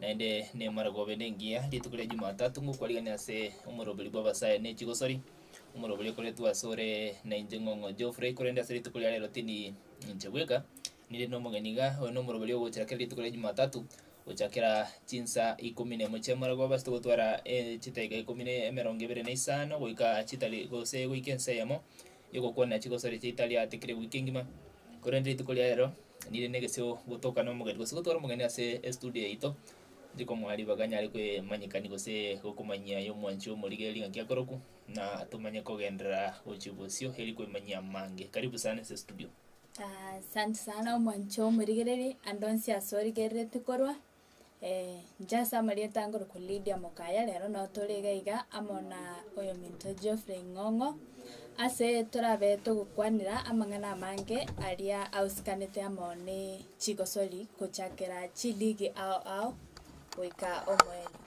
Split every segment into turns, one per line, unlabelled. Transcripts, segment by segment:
Naende nemare gobe nengiya rituko ria Jumatatu ngokwarigereria ase omoroberi bw'abasae ne chigosori, omoroberi okoretwe asore na inche Ng'ong'o Geoffrey, korende ase rituko ria rero tindi inche bweka, ninde nomogeni iga. Oyo nomoroberi ogochira kera rituko ria Jumatatu gochakera chinsa ikomi nemo chia moragwe obasete gotwara chidaeka ikomi ne emerongo ebere na isano goika chitari gose goika ensa eyemo, y'ogokwana chigosori chiaito tariatikire wiki engima, korende rituko ria rero nire negesio gotoka nomogeni gose gotwara omogeni ase estudio yaito, nche komoa ribaga nyare koemanyekania gose gokomanyia y'omwanchi omorigeri ng'aki akorokwa, na tomanye kogenderera gochia bosio eri koemanyia amange. Karibu sana ase estudio. Asanti sana omwanchi omorigereri, ande onsi ase origereretie korwa. nchase amarieta ange korokwa Lydia Mokaya, rero nabo tore iga iga amo na oyominto Geoffrey Ng'ong'o, ase torabe togokwanera amang'ana amange aria ausikanete amo ne chigosori, gochakera chiligi ao ao goika omoerio.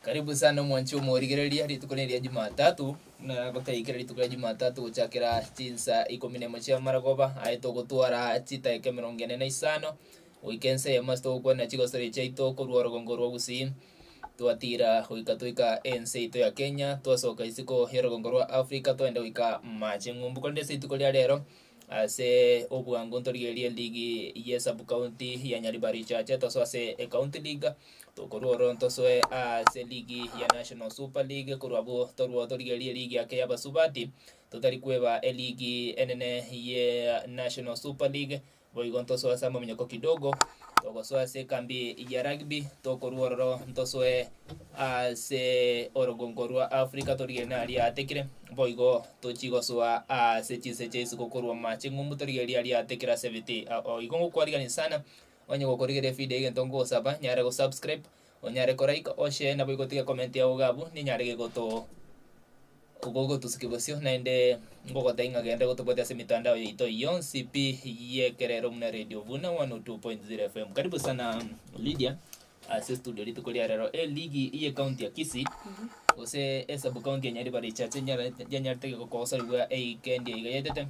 Karibu sana omwanchi omorigereria rituko neri ria Jumatatu, na gotaiyo kera rituko ria Jumatatu gochakera chinsa ikomi nemo chia amaragoba aye togotwara chidaeka emerongo ene na isano goika ense eyemo ase togokwana chigosori chiaito korwa orogongo rwa Gusii twatira goika toika ense yaito ya Kenya twasoka isiko y'orogongo rwa Africa twagenda goika Mache Ng'umbu korende ase rituko ria rero Ase obwango ntorigererie ligi ye sub-county ya Nyaribari Church tosoe ase ecounty league, tokorua oro ntosoe ase ligi ya National Super League, korwa abwo torue torigererie ligi yake y'abasubati, totari kweba eligi enene ye National Super League, boigo ntosoe ase amaminyoko kidogo, togosoa ase ekambi ya rugby, tokorua ororo ntosoe ase orogongo rwa Africa torigererie nari atekire, boigo Tochie gosoa aase chinse chia isiko korwa amache, ng'umbu torigererie aria ate kera ase ebiti. Ao igo ngokwarigereria sana, onye gokorigereria evideo egento nkogosaba, nyare go subscribe, onyare ko like, o share naboigo otige comment yao iga abwo, ninyare gegoto gogotusukia bosio, naende ngogotebia ng'a genda gotobwate ase emetandao yaito yonsi pi y'ekerero buna Radio Vuna 102.0 FM. Karibu sana Lydia. Ase studio rituko ria rero eligi ye county ya Kisii gose e sub county ya Nyaribari echache nyarete yanyarete geko kogosorigwa eika endia iga yaetete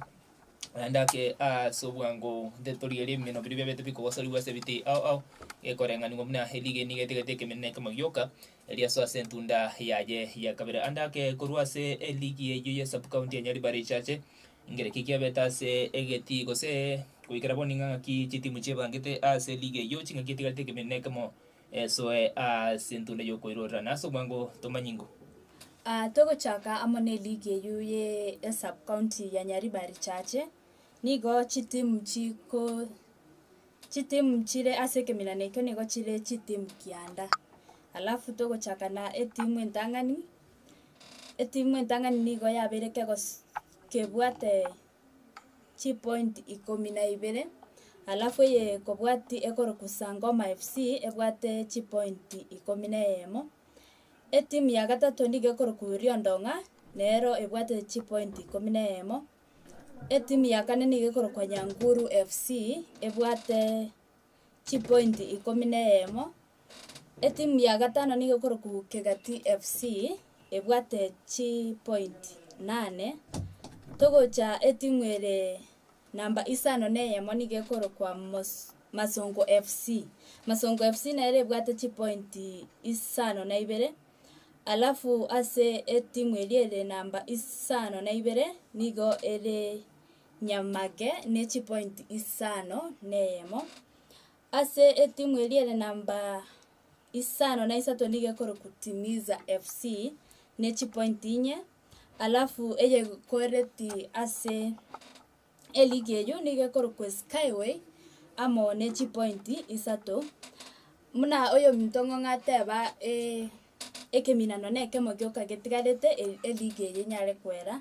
naende ake ase obwango nte torigerie ebimeno biria biabete bikogosorigwa ase ebiti ao ao gekoreng'anigwa buna eligi eye niga etegete ekeminto na ekemo gioka eria so ase entunda yaye ya kabere. Ande ake korwa ase eligi eyio ye sub county ya Nyaribari echache Ngere ki kiabete ase egetii gose goikera bono ing'a ng'aki chitimu chiebangete ase ligi eyio ching'aki etigarete ekeminto nekemo esoe ase ntunda yokoirorera na ase omwango tomanye ingo. Aa togochaka amo ne ligi eyio ye esub county ya Nyaribari richache nigo chitimu chiko chitimu chire ase ekeminana ekio nigo chire chitimu kianda alafu togochaka na etimu entang'ani etimu entang'ani nigo yabeire kegos kebwate chipoint ikomi na ibere, alafu eye kobwati ekorokwa sangoma FC ebwate chipointi ikomi na eyemo. Etimu ya gatato nigo ekorokwa riondong'a nero ebwate chipointi ikomi na eyemo. Etimu ya kane nigo ekorokwa nyanguru FC ebwate. chipointi ikomi na eyemo. Etimu ya gatano nigo ekorokwa Kegati FC, ebwate chipointi inane. Togocha etimu ere namba isano na eyemo nigo ekorokwa Mos- Masongo FC. Masongo FC nere ebwate chipointi isano na ibere, alafu ase etimu eria ere namba isano na ibere nigo ere. Nyamake ne chipointi isano neyemo. Ase etimu eria ere namba isano na isato nigo ekorokwa Timiza FC ne chipointi inye, alafu eyekoreti ase eligi eywo nigo ekorokwa Skyway amo ne chipointi isato. Buna oyominto ng'a ng'ateba ekeminano nekemo gioka getigarete eligi eye enyare koera.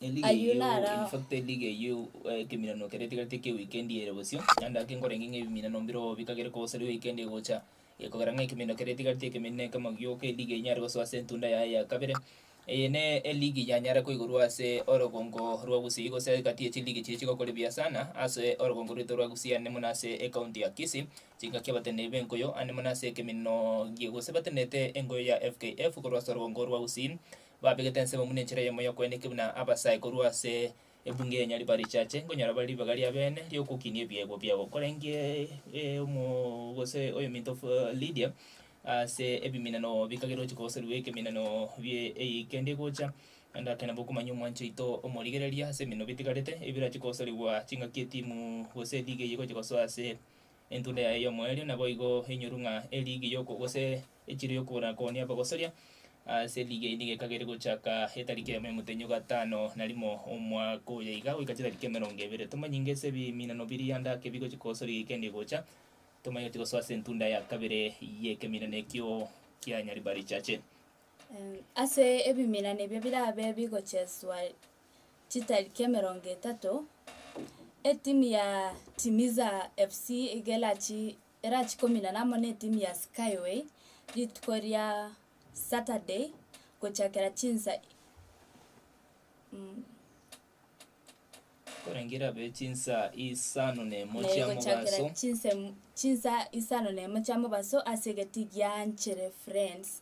Eliga Ayio eyio, naro- in fact eliga eyio eh, ekeminano kere tigareti ekia weekend eye ere bosio, naende ake nkorenge ng'a ebiminano mbiroo bikagere kogosaria weekend egocha, eh, kogera ng'a ekeminano kere tigareti ekeminene ekemo gioka eliga enyare gosoa ase entunda yaye ya kabere. Eye ne eligi yanyare koigorwa ase orogongo rwa Gusii gose egati ye chiligi chiria chigokora ebuya sana ase orogongo rwaito rwa Gusii ande mono ase ecounty ya Kisii, chingaki abateneneri b'enkoyo ande mono ase ekemineno gie gose batenerete enkoyo ya FKF korwa ase orogongo rwa Gusii Babegete ensemo buna enchera eyemo y'okoenda eke buna abasae korwa ase ebunge ya Nyariba richache nkonyora bare ribaga riabene riokokinia ebiegwa biabo. Korenge omo gose oyominto Lidia ase ebiminano bikagera ochiko gose rue ekeminano bie eyio kende gocha naende ake nabo okomanya omwancho oito omorigereria ase eminano bitigarete ebirache kosorigwa chingaki etimu gose eliga eyio egocha gosoa ase Entunda yaye y'omoerio naboigo enyoru ng'a eligia y'oko gose echiro y'okobora koonia abagosoria ase eligia inde gekagere gochaka etariki emo y'omotenyo gatano na rimo omwaka oyo iga goika chitariki emerongo ebere. Tomanye inga ase ebiminano biria ndake bigochia kogosoria egekende egocha, tomanye gochia gosoa ase entunda ya kabere y'ekeminano ekio kia Nyaribari Church. Ase ebiminano ebio birabe bigocheswa chitariki emerongo etato, etimu ya Timiza FC iga erachi erachi kominana amo na etimu ya Skyway rituko ria Saturday gochakera chinsa mm korenge irabe chinsa isano na emo chia gochakera mobaso chinsa emo- chinsa isano na emo chia mobaso ase egeti gianchere Friends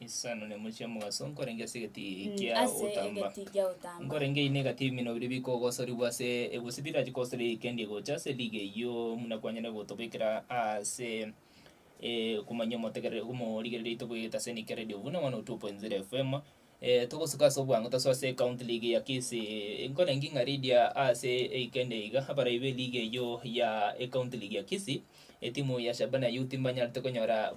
Isano nemochie omogaso, nkorenge ase egeti Mm, kia ase otamba. egeti gia otamba. Nkorenge ine egati bimino biria bikogosorigwa ase egusi birachi kosori eikendi gocha ase liga eyio muna kwanyare gotobekera ase eh, okomanya omotegereri omorigereria oito bwegete ase Nike Radio buna 102.0 FM eh, togosuka ase obwango tosoe ase county league ya Kisii nkorenge ng'a Lydia ase eikendi iga abarai be liga eyio ya ecounty league ya Kisii Etimu ya Shabana Youth mbanyarete konyora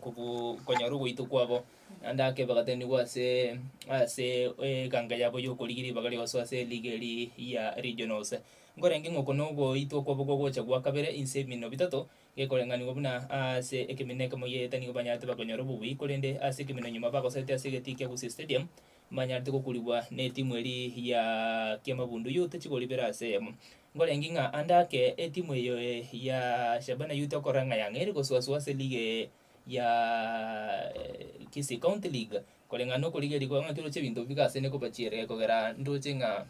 konyora ogoitwa kwabo naende ake bagatenigwa ase ase eganga yabo y'okorigia ribaga rionso ase eliga eri ya regionals. Nkorenge ng'a oko nogoitwa kwabo gogocha gwa kabere inse emino bitato gekoreng'anigwa buna ase ekemineke moyee etanigo banyarete bakonyora obobui korende ase ekemino nyuma bagosetia ase egetii kia Gusii Stadium manyarete gokurigwa netimu eri ya Kiamabundu Youth chikoribera ase eyemo. Nkorenge ng'a ande ake etimu eye ya Shabana Youth okorora ng'a yang'eire gosuasua ase lige ya Kisii County League koreng'ana nokorigeria kwang'aki oroche ebinto bika ase nekobachiere kogera ndoche ng'a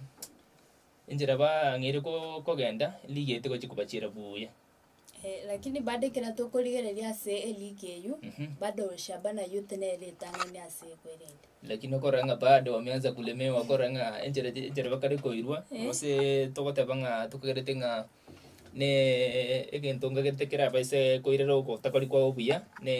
enchera bang'eire kogenda lige tigochi kobachiera buya. Eh, lakini bado ekero tokorigereria ase eliiki eyio, Mhm. bado Shaba na Youth nere ritang'ani ase ekwerende. lakini okorora ng'a bado bameansa kulemewa okorora ng'a enchera chi- enchera bakare koirwa Eh. gose togoteba ng'a tokagerete ng'a ne egento nkagerete kerabe ase koirera ogotakori kwao buya ne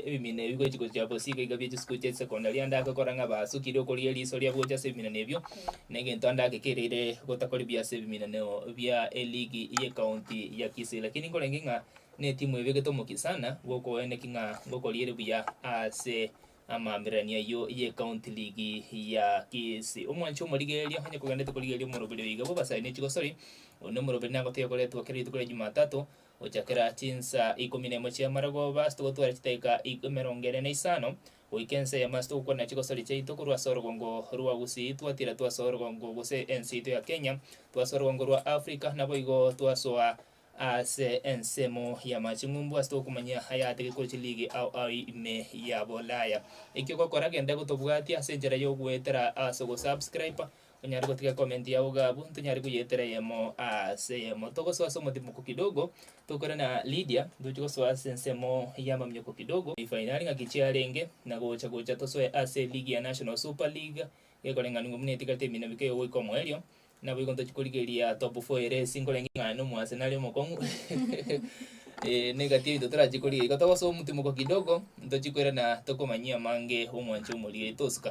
ebimina ebi gochi gochia bosi iga iga bie chisukuru chia chisecondary ande ake okorora ng'a basukire okorigia riiso riabo gocha ase ebimina na ebio Negento ande agekereire gotakoribia ase ebiminano bia eligi y'ecounty ya Kisii lakini nkorenge ng'a netimu ebegete omokia sana gokoeneki ng'a ngokoriere buya ase amaambererania ayio y'ecounty ligi ya Kisii. Omwanchi omorigereria onye kogendete korigereria omoroberi oyo igabo basae ne chigosori, onde omoroberi nagotebiwa koretwa kera rituko ria Jumatato gochakera chinsa ikomi nemo chi'amarogoba ase togotware chidakika emerongo ere na isano Goika ense ya Mars togokwana chigosori chiaito korwa ase orogongo rwa Gusii twatira twasoa orogongo gose ense yaito ya Kenya, twasoa orogongo rwa Africa, naboigo twasoa ase ensemo y'amache ng'umbu ase togokomanya ayatege kore chiliigi ao ao ime ya Bolaya. Ekio ogokora genda gotobwatia ase enchera y'ogoetera ase ogosubscriber, onyare gotiga ecomment yao iga abwo, ntonyare koyetera eyemo ase eyemo. Togosoa ase omotimoko kidogo, tokore na Lydia, ntoche gosoa ase ensemo y'amamioko kidogo, efainari ng'aki chiarenge, na gocha gocha tosoe ase eligi ya National Super League, ekoreng'anigwa buna etigarete emino mike iga goika omoerio, naboigo ntochia korigereria top four ere ase inkorenge ng'a nomoasenali omokong'u. Ee, n'egati yaito torachie korigia iga, togosoa omotimoko kidogo, ntochie koirana tokomanyia amange 'omwancha omorigia yaito osuka.